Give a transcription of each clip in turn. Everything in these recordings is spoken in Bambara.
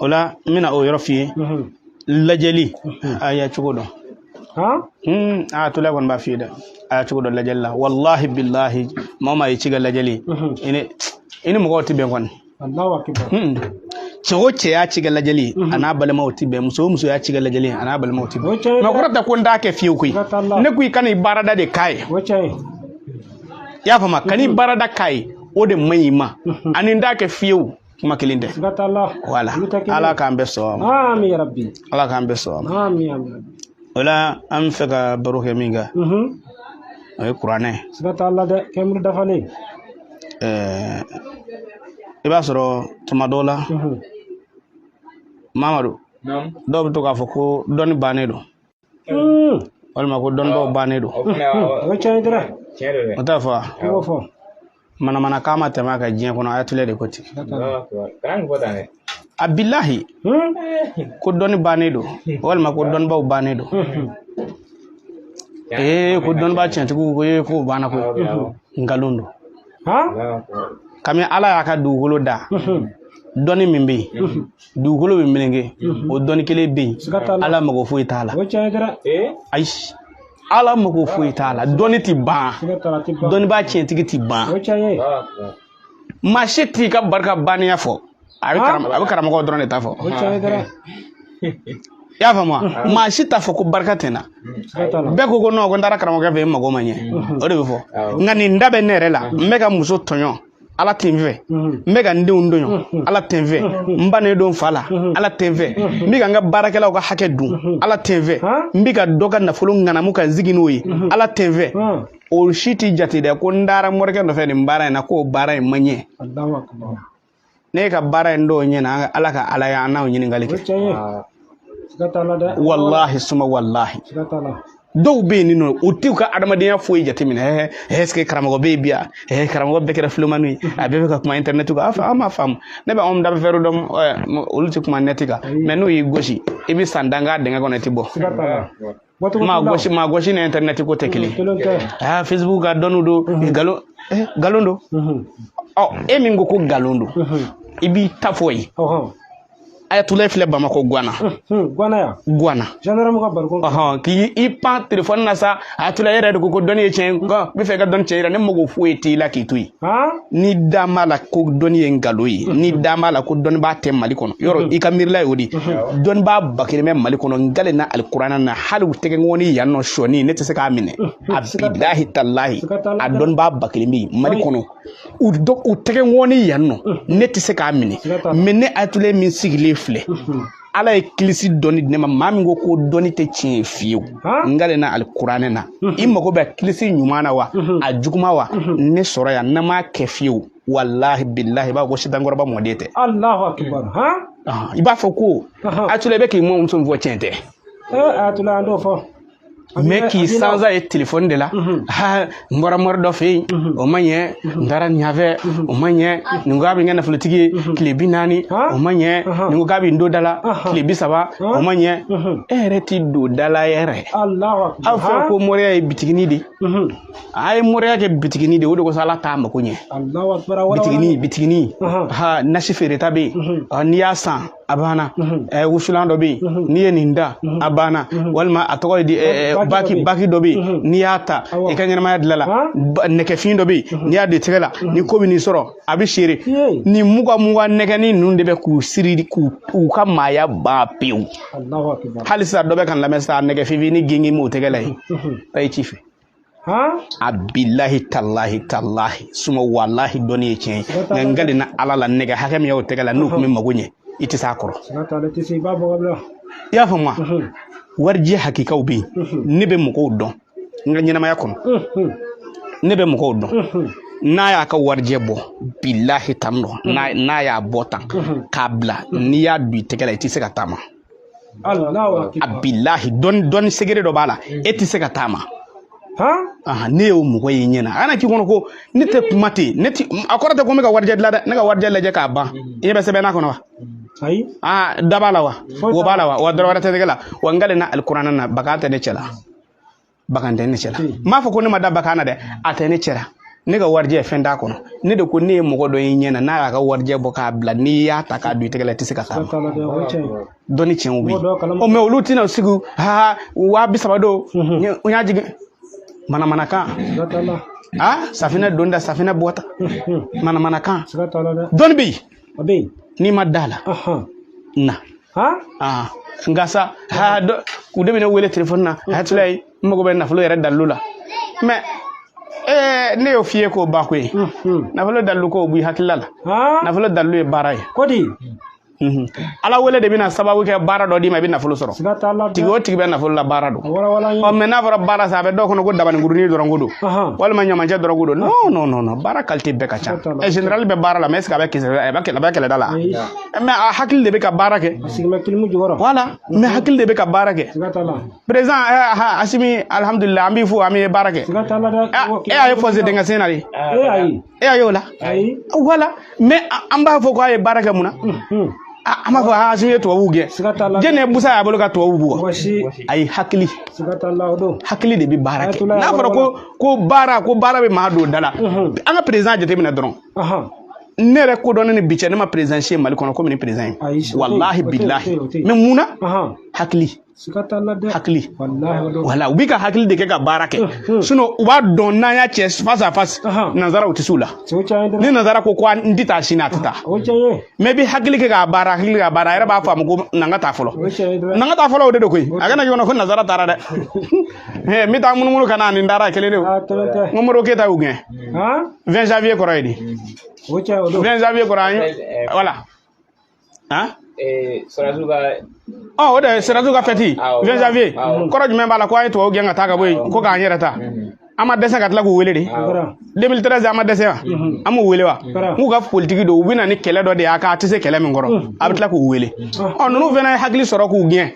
o la n bɛna o yɔrɔ f'i ye lajɛli a y'a cogo dɔn ayatulayi kɔni b'a f'i ye dɛ a y'a cogo dɔn lajɛli la walahi bilahi maa maa y'i ci kɛ lajɛli i ni mɔgɔw tɛ bɛn kɔni cɛ o cɛ y'a ci kɛ lajɛli ye a n'a balimaw tɛ bɛn muso o muso y'a ci kɛ lajɛli ye a n'a balimaw tɛ bɛn nka a kɔrɔ tɛ ko n t'a kɛ fiyewu koyi ne ko i kan'i baarada de k'a ye i y'a faamu kan'i baarada k'a ye o de man ɲi i ma ani n t'a kɛ fiyewu kuma kelen tɛ wala ala k'an bɛɛ sɔn ala k'an bɛɛ sɔn o la an bɛ fɛ ka baro kɛ min kan mhm. o ye kuranɛ i b'a sɔrɔ tuma dɔw la mhm. mamadu dɔw bɛ to k'a fɔ ko dɔnni bannen don hmm. walima ko dɔnnibaaw bannen don o t'a fɔ wa manamana kan ma tɛmɛ a kan diɲɛ kɔnɔ ayatulɛ de ko ten a bilahi ko dɔnni bannen don walima ko dɔnnibaw bannen don ee ko dɔnniba tiɲɛtigiw ko ye ko banna ko nkalon don kami ala y'a ka dugukolo da dɔnni min bɛ yen dugukolo bɛ meleke o dɔnni kelen bɛ yen ala mago foyi t'a la ayi ala mago foyi t'a la dɔnni ti ban dɔnnibaa tiɲɛtigi ti ban maa si t'i ka barika banniya fɔ a bɛ karamɔgɔ dɔrɔn de ta fɔ i y'a faamu wa maa si t'a fɔ ko barika tɛ n na bɛɛ ko ko nɔn ko n taara karamɔgɔkɛ fɛ yen n mago ma ɲɛ o de bɛ fɔ nka nin da bɛ ne yɛrɛ la n bɛ ka muso tɔɲɔ ala tɛ n fɛ n bɛ ka n denw tɔɲɔ ala tɛ n fɛ n bannen don n fa la ala tɛ n fɛ n bɛ ka n ka baarakɛlaw ka hakɛ dun ala tɛ n fɛ n bɛ ka dɔ ka nafolo ŋanamu ka n sigi n'o ye ala tɛ n fɛ o si tɛ jate dɛ ko n taara morikɛ nɔfɛ nin baara in na ko baara in ma ɲɛ ne ka baara in dun ɲɛna ala ka ala ye an n'aw ɲininkali kɛ walahi suma walahi dɔw bɛ yen nɔ u t'u ka adamadenya foyi jateminɛ ɛɛ ɛseke karamɔgɔ bɛ yen bi yan ɛɛ karamɔgɔ bɛɛ kɛra filomani ye a bɛɛ bɛ ka kuma internet kan aa an m'a faamu ne bɛ anw da bɛ fɛrɛ dɔn olu tɛ kuma nɛti kan mɛ n'u y'i gosi i bɛ san tan kɛ dingɛ kɔnɔ i tɛ bɔ maa gosi maa gosi ni internet ko tɛ kelen aa facebook ka dɔnni don nkalon nkalon don ɔ e min ko ko nkalon don i b'i ta fɔ yen ayatulayi filɛ bamakɔ guana guana ya guana gendarme ka barikon ɔhɔn k'i i pan telefɔni na sa ayatulayi yɛrɛ de ko ko dɔnni ye tiɲɛ n b'a fɛ i ka dɔnni tiɲɛ yira ne mago foyi t'i la k'i to yen n'i da b'a la ko dɔnni ye nkalon ye n'i da b'a la ko dɔnnibaa tɛ mali kɔnɔ yɔrɔ i ka miirila ye o de dɔnnibaa bakelen bɛ mali kɔnɔ n kalen na alikuranɛ na hali u tɛgɛnkɔni yan nɔ sɔni ne tɛ se k'a minɛ a bilahi talahi a dɔnnibaa bakelen bɛ mali kɔnɔ u dɔ u tɛgɛnkɔni yan nɔ ne tɛ se k'a minɛ mɛ ne atulayi min sigilen filɛ ala ye kilisi dɔnni di ne ma maa min ko ko dɔnni tɛ tiɲɛ ye fiyewu n kalen na alikuranɛ na i mago bɛ kilisi ɲuman na wa a juguma wa ne sɔrɔ yan n'a ma kɛ fiyewu walahi bilahi i b'a fɔ ko sitan kɔrɔba mɔden tɛ i b'a fɔ ko atula i bɛ k'i mɔmuso min fɔ tiɲɛ tɛ atula an t'o fɔ mɛ k'i sansa ye telefɔni de la mhm. ha n bɔra mori dɔ fɛ yen mhm. o ma ɲɛ mhm. n taara ɲafɛ o ma ɲɛ nin ko a bɛ n kɛ nafolotigi ye tile bi naani o ma ɲɛ nin ko k'a bɛ n don da la tile bi saba o ma ɲɛ e yɛrɛ t'i don da la yɛrɛ aw fɛ ko moriya ye bitigini de a ye moriya kɛ bitigini de o de kosɔn ala t'a mako ɲɛ bitigini bitigini ha nasi feereta bɛ yen n'i y'a san a banna ɛɛ wusulan dɔ bɛ yen n'i ye nin da a banna walima a tɔgɔ ye di ɛɛ bagi bagi dɔ bɛ yen n'i y'a ta i ka ɲɛnamaya dilanna ba- nɛgɛfin dɔ bɛ yen n'i y'a don i tɛgɛ la ni ko bɛ n'i sɔrɔ a bɛ seere Yee. nin muga muga nɛgɛnin ninnu de bɛ k'u siri k'u u ka maaya ban pewu Allahu akbar. halisa dɔ bɛ ka n lamɛn sa nɛgɛfinnin gengen b'o tɛgɛ la yen a ye ci fɛ a bilahi talahi talahi suma walahi dɔnni ye tiɲɛ ye nka n kalen na ala la nɛgɛ hakɛ min y'aw tɛgɛ la n'u tun bɛ mago ɲɛ i tɛ s'a kɔrɔ i y'a faamu wa warijɛ hakikaw bɛ yen ne bɛ mɔgɔw dɔn n ka ɲɛnamaya kɔnɔ ne bɛ mɔgɔw dɔn n'a y'a ka warijɛ bɔ bilahi tan dɔn n'a y'a bɔ tan k'a bila n'i y'a don i tɛgɛ la i tɛ se ka taama a bilahi dɔnni sekere dɔ b'a la e tɛ se ka taama ne y'o mɔgɔ ye n ɲɛ na a kana k'i kɔnɔ ko ne tɛ kuma ten ne tɛ a kɔrɔ tɛ ko n bɛ ka warijɛ dilan dɛ ne ka warijɛ lajɛ k'a ban i ɲɛ bɛ sɛbɛn n'a kɔnɔ wa ayi aa da b'a la wa wo b'a la wa wa dɔrɔ wɛrɛ tɛ tɛgɛ la wa n kalen na alikuranɛ na bagan tɛ ne cɛ la bagan tɛ ne cɛ la n m'a fɔ ko ne ma da bagan na dɛ a tɛ ne cɛ la ne ka warijɛ fɛn t'a kɔnɔ ne de ko ne ye mɔgɔ dɔ ye n ɲɛ na n'a y'a ka warijɛ bɔ k'a bila n'i y'a ta k'a don i tɛgɛ la i tɛ se ka taama dɔnni tiɲɛw bɛ yen ɔ mɛ olu tɛna sigi ha waa bi saba don n y'a jigin manamanakan a safinɛ don da safinɛ bɔta manamanakan dɔnni bɛ yen o bɛ yen n'i ma d'a la na n kan sa ha dɔw de bɛ ne wele telefɔni na atulayi n mago bɛ nafolo yɛrɛ dalilu la mɛ ee ne y'o f'i ye k'o ba ko ye nafolo dalilu ko o b'i hakilila la nafolo dalilu ye baara ye ko di ala wele de bɛna sababu kɛ baara dɔ d'i ma i bɛ nafolo sɔrɔ tigi o tigi bɛ nafolo la baara don ɔ mɛ n'a fɔra baara sa a bɛ dɔw kɔnɔ ko dabaninkurunin dɔrɔn ko don walima ɲamacɛ dɔrɔn ko don non non non non baara kalite bɛɛ ka ca ɛ generali bɛ baara la mɛ est ce que a bɛ kɛlɛ a bɛ kɛlɛda la mɛ a hakili de bɛ ka baara kɛ voilà mɛ hakili de bɛ ka baara kɛ président asimi alihamudulila an b'i fo an bɛ baara kɛ e a ye fɔse dingɛ sen na de e y'a ye o la voilà mɛ an b'a fɔ ko a ye baara kɛ mun na an b'a fɔ asimi ye tubabuw gɛn jɛnɛ busa y'a bolo ka tubabuw bugɔ ayi hakili hakili de bɛ baara kɛ n'a fɔra ko ko baara ko baara bɛ maa don da la an ka perezan jateminɛ dɔrɔn ne yɛrɛ kodɔnnen ni bi cɛ ne ma perezan si ye mali kɔnɔ komi ni perezan ye walahi bilahi mɛ mun na hakili hakili voilà u b'i ka hakili de kɛ ka baara kɛ sinon u b'a dɔn n'an y'a cɛ face à face nanzara u tɛ s'u la ni nanzara ko ko n tɛ taa sini a tɛ taa mɛ i bɛ hakili kɛ k'a baara hakili k'a baara a yɛrɛ b'a faamu ko na n ka taa fɔlɔ na n ka taa fɔlɔ o de don koyi a kana ɲɔgɔn na ko nanzara taara dɛ n bɛ taa munumunu ka na nin taara kelen de o n ko modibo keyita y'u gɛn 20 janvier kɔrɔ ye di 20 janvier kɔrɔ an ye voilà han sɔrɔdasiw ka ɔ o de ye sɔrɔdasiw ka fɛti Awɔ. 20 janvier Awɔ. kɔrɔ jumɛn b'a la ko an ye tubabu gɛn ka taa ka bɔ yen ko k'an yɛrɛ ta an ma dɛsɛ ka tila k'u wele de 2013 an ma dɛsɛ wa an m'u wele wa n'u ka politiki don u bɛ na ni kɛlɛ dɔ de ye k'a tɛ se kɛlɛ min kɔrɔ a bɛ tila k'u wele ɔ ninnu fana ye hakili sɔrɔ k'u gɛn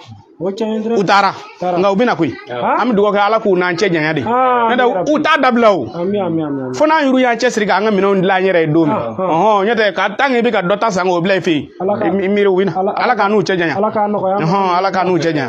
taara nka u bɛ na koyi an bɛ dugawu kɛ ala k'u n'an cɛ janya de n'o tɛ u t'a dabila o fo n'an yɛrɛ y'an cɛsiri k'an ka minɛnw dilan an yɛrɛ ye don min ɔhɔn n'o tɛ ka tan k'i bɛ ka dɔ ta san k'o bila i fɛ yen i miiri u bɛ na ala k'an n'u cɛ janya ala k'an nɔgɔya ala k'an n'u cɛ janya.